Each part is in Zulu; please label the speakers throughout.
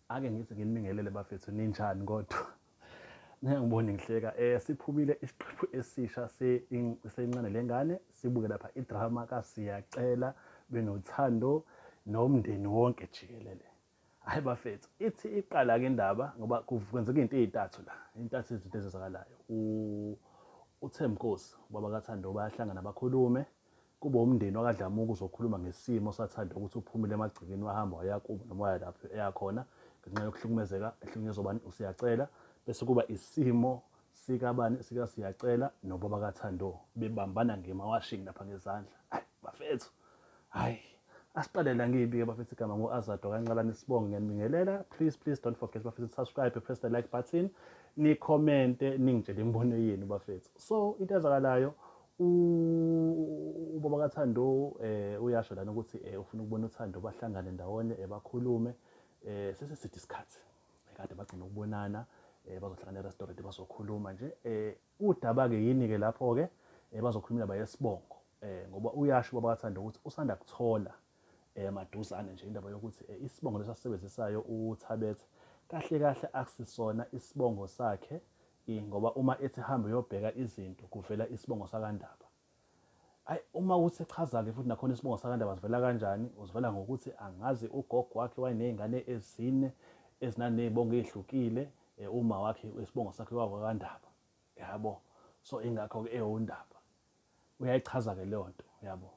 Speaker 1: Ake ngithi nginibingelele bafethu ninjani kodwa ningangiboni ngihleka eh siphumile isiqephu esisha sencane lengane sibuke lapha idrama kasiyacela benothando nomndeni wonke jikelele hayi bafethu ithi iqala ke indaba ngoba kwenzeka into ezintathu la intathu izinto ezizakalayo uThemkosi baba kaThando bayahlangana bakhulume Kube wumndeni wakaDlamuka uzokhuluma ngesimo saThando ukuthi uphumile emagcekeni wahamba waya kubo noma waya lapho eya khona ngenxa yokuhlukumezeka ehlukunyezwa ubani uSiyacela bese kuba isimo sikabani sikaSiyacela nobaba kaThando bebambana ngemawashini lapha ngezandla. Ayi bafethu. Hayi asiqale la ngiyibike bafethu igama ngo-azado kanqalane sibonge ngiyanibingelela please please don't forget bafethu subscribe press the like button nikhomente ningitshele imibono yenu bafethu so into ezakalayo Ubaba kaThando eh uyasho lana ukuthi eh, ufuna ukubona uThando bahlangane ndawonye eh, bakhulume eh sese sithi isikhathi eh, kade bagcina ukubonana eh bazohlangana e-restaurant bazokhuluma nje eh udaba ke yini ke lapho ke eh bazokhulumela bayesibongo eh ngoba uyasho ubaba kaThando ukuthi usanda kuthola eh maduzane nje indaba yokuthi eh, isibongo lesasisebenzisayo uThabethe kahle kahle akusisona isibongo sakhe I ngoba uma ethi hamba uyobheka izinto kuvela isibongo sakaNdaba. Ayi uma uthi echaza-ke futhi nakhona isibongo sakaNdaba sivela kanjani? Usivela ngokuthi angazi ugogo wakhe wayeney'ngane ezine ezinaney'bongo ey'hlukile, eh, uma wakhe isibongo sakhe kwakwaNdaba. Yabo? So ingakho-ke ewuNdaba. Uyayichaza-ke leyo nto, yabo?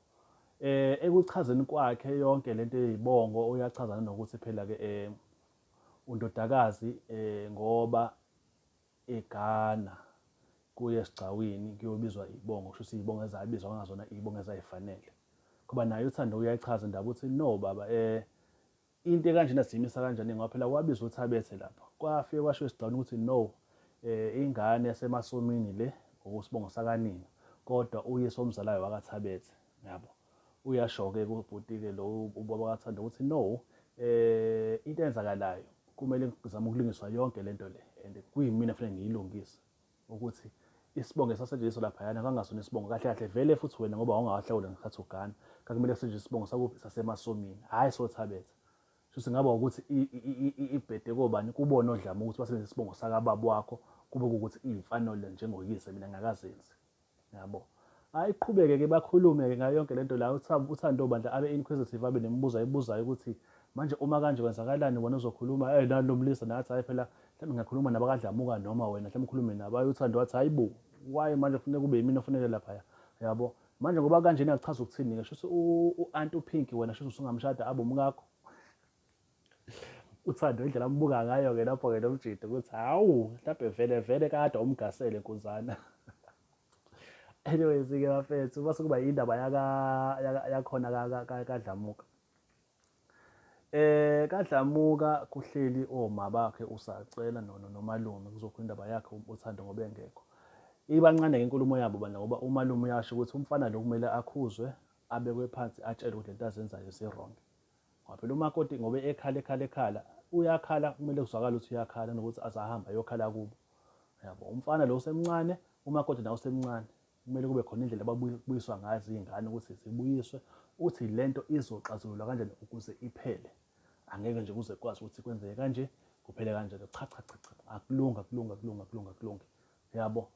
Speaker 1: Eh, ekuchazeni kwakhe yonke le nto ey'bongo uyachaza nanokuthi phela-ke um undodakazi um ngoba eGhana kuye esigcawini kuyobizwa iy'bongo, kusho ukuthi iy'bongo ezabizwa kwangazona iy'bongo ezay'fanele. Ngoba naye uThando uyayichaza indaba uthi no baba um into ekanjena siyimisa kanjani ngoba phela kwabizwa uThabethe lapho. Kwafike kwashiwo esigcawini ukuthi no um ingane yaseMasomini le ngokusibongo sakanina kodwa uyise omzalayo wakaThabethe, yabo. Uyasho-ke kubhuti-ke lo ubaba kaThando ukuthi no um into eyenzakalayo kumele kuzame ukulungiswa yonke le nto le and kuyimina kufanele ngiyilungise ukuthi isibongo esasetshenziswa laphayana kangasona isibongo kahle kahle vele futhi wena ngoba wawungawahlawula ngesikhathi ugana kakumele kusetshenziswe isibongo sakuphi sasemasomini hhayi sothabetha shuthi ngaba ukuthi ibhede kobani kubona odlama ukuthi basebenzise isibongo sakababa wakho kube kuwukuthi iyimfanelo njengoyise mina ngingakazenzi Yabo. Ayiqhubeke ke bakhulume ke ngayo yonke lento la uThando bandla abe inquisitive abe nemibuzo ayibuzayo ukuthi manje uma kanje kwenzakalani wena uzokhuluma eh nalo mlisa nathi hayi phela mhlawumbe ngiyakhuluma nabakadlamuka noma wena mhlawumbe ukhulume nabo ayi uThando wathi hayibo why manje kufuneka kube yimina ofuneke lapha yabo manje ngoba kanje nakuchaza ukuthini ke shuthi uAnt uPinky wena shuthi usungamshada abe umkakho uthando indlela ambuka ngayo ke lapho ke nomjidi ukuthi hawu mhlawumbe vele vele kade umgasele nkuzana anyways ke bafethu base kuba indaba yaka yakhona kadlamuka eh kadlamuka kuhleli oma bakhe usacela nono nomalume kuzokhona indaba yakhe uthando ngoba engekho ibancane ke inkulumo yabo bana ngoba umalume uyasho ukuthi umfana lo kumele akhuzwe abekwe phansi atshelwe ukuthi lento azenzayo zirong Ngoba phela umakoti ngoba ekhala ekhala ekhala uyakhala kumele kuzwakale ukuthi uyakhala nokuthi azahambe ayokhala kubo. Yabo umfana lo usemncane umakoti nawo usemncane. Kumele kube khona indlela ababuyiswa ngazo izingane ukuthi zibuyiswe ukuthi lento izoxazululwa kanjani ukuze iphele. Angeke nje kuze kwazi ukuthi kwenzeke kanje kuphele kanjalo cha cha cha cha akulunga kulunga kulunga kulunga kulungi. Uyabo?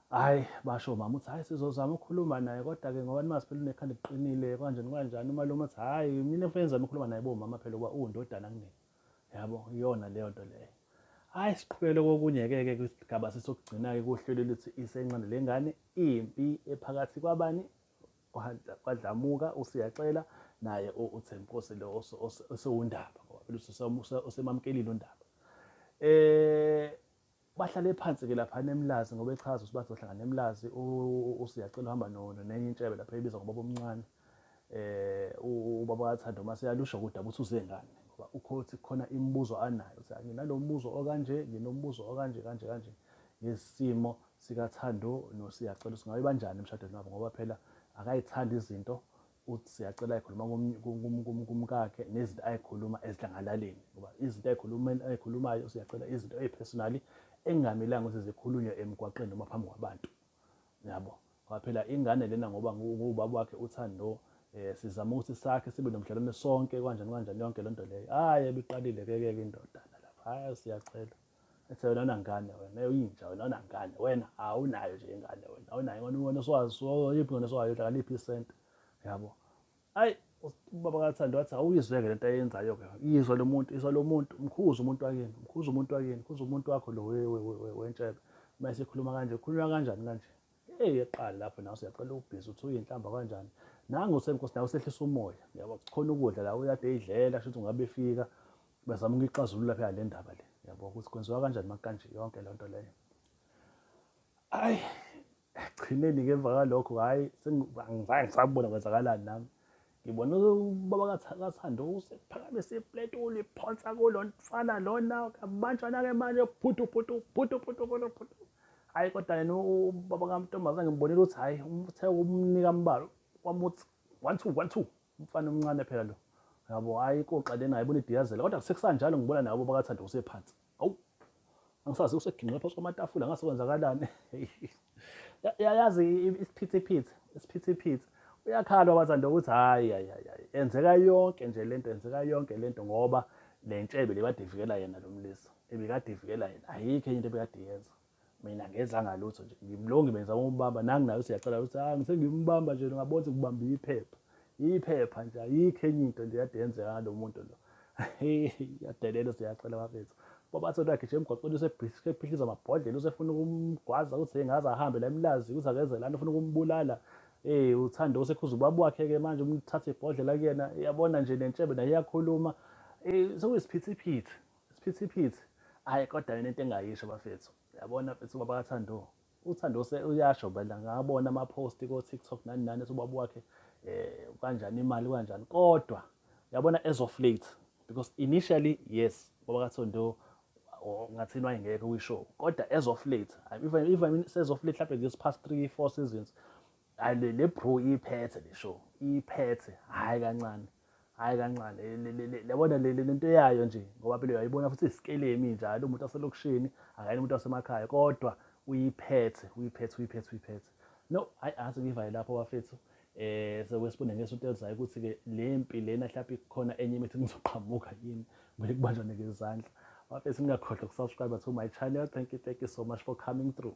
Speaker 1: Hhayi, basho omama ukuthi hhayi sizozama ukukhuluma naye kodwa-ke ngoba nimazi phela unekhanda eliqinile kanjani kanjani. Umalume uthi hhayi mina kufanele ngizame ukukhuluma naye bomama phela uba uwundodana kunina. Yabo, iyona leyo nto leyo. Hhayi, siqhubekele kokunye-ke-ke kwisigaba sesokugcina-ke kuhlelo elithi isencane le ngane impi ephakathi kwabani kwadlamuka usiyaxela naye uthembkosi lo osewundaba ngoba phela usemamkelile undaba um Bahlale phansi ke laphana eMlazi ngoba echaza ukuthi bazohlangana eMlazi uSiyacela uhamba nenye intshebe lapha ebiza ngobaba omncane eh ubaba kaThando uma seyalusho ukuthi ukuthi uze ngani ngoba ukhothi khona imibuzo anayo ukuthi nginalombuzo okanje nginombuzo okanje kanje kanje ngesimo sikaThando noSiyacela singabe banjani emshadweni wabo ngoba phela akayithandi izinto uthi siyacela ayikhuluma kumkakhe nezinto ayikhuluma esidlangalaleni ngoba izinto ayikhuluma ayikhulumayo siyacela izinto ezipersonally engamelanga ukuthi zikhulunywe emgwaqeni noma phambi kwabantu yabo ngoba phela ingane lena ngoba ngubaba wakhe uthando eh sizama ukuthi sakhe sibe nomdlalwane sonke kanjani kanjani yonke lento leyo hayi ebiqalile ke ke indoda lapha hayi siyacela Ethe wena unangane wena uyinja wena unangane wena awunayo nje ingane wena awunayo ingane wena uswazi yiphi ngane oswayo udlala liphi isente yabo ayi ubaba kathando wathi awuyizweke lento ayenzayo ke yizwa lo muntu izwa lo muntu mkhuza umuntu wakini mkhuza umuntu wakini mkhuza umuntu wakho lo wentshebe uma esekhuluma kanje ukhulunywa kanjani kanje hey eqala lapho nawe siyacela ubhizi uthi uyinhlamba kanjani nangu senkosi nawe sehlisa umoya yabo khona ukudla la uyade idlela shuthi ngabe fika Bazama ukuyixazulula phela le ndaba le, yabo ukuthi kwenziwa kanjani makanje yonke loo nto leyo. Ayi, ekugcineni-ke emva kwalokho hhayi angizange ngisabona kwenzakalani nami. Ngibona ubaba kaThando usephakamise ipleti uliphonsa kulo mfana lona, kabanjana-ke manje phuthu phuthu phuthu phuthu phuthu phuthu. Hhayi kodwa yena ubaba kaMntombazane ngibonile ukuthi hhayi uthe umnika mbalo, wamuthi one two one two Umfana omncane phela lo. Yabo hayi koxa lena ayibona idiyazela kodwa sekusanjalo ngibona nabo bakathanda usephansi. Awu. Angisazi useginqe phansi kwamatafula ngase kwenzakalani. Yayazi isiphithiphithi, isiphithiphithi. Uyakhala wabathanda ukuthi hayi hayi hayi enzeka yonke nje lento enzeka yonke lento ngoba lentshebe lebadivikela yena lomlisa. Ebikadivikela yena ayikho into ebikadiyenza. mina ngezanga lutho nje ngimlongi benza umbamba nangu nayo siyacela ukuthi ah ngisengimbamba nje ngabona ukuthi kubamba iphepha iphepha nje ayikho enye into nje yade yenzeka lo muntu lo yadelelo siyacela bafethu babatho lakhe nje emgwaqweni usephihliza amabhodlela usefuna ukumgwaza ukuthi engaze ahambe la emlazi ukuthi akeze lana ufuna ukumbulala eh uthanda osekhuza ubaba wakhe ke manje umthathe ibhodlela kuyena yabona nje nentshebe naye iyakhuluma eh sokuyisiphithiphithi Isiphithiphithi ayi kodwa yena into engayisho bafethu yabona mfethu ubaba kathando uthando uyasho bela ngabona ama-post ko-tiktok nani nani ethi ubaba wakhe um kanjani imali kanjani kodwa yabona as of late because initially yes ubaba kathondo ngathini wayengeke kwishow kodwa as of late even, even as of late mhlawumbe this past three four seasons hayi le le bro iphethe le show iphethe hayi kancane hayi kancane yabona le lento yayo nje ngoba phela uyayibona futhi isikelemi njalo umuntu waselokishini akayena umuntu wasemakhaya kodwa uyiphethe uyiphethe uyiphethe uyiphethe no hayi angathi ngivale lapho bafethu eh sekwesibone ngesonto elizayo ukuthi-ke le mpi lena mhlawumbe ikhona enye imithi ngizoqhamuka yini kumele kubanjwane ngezandla bafethu ningakhohlwa ukusubscribe to my channel thank you thank you so much for coming through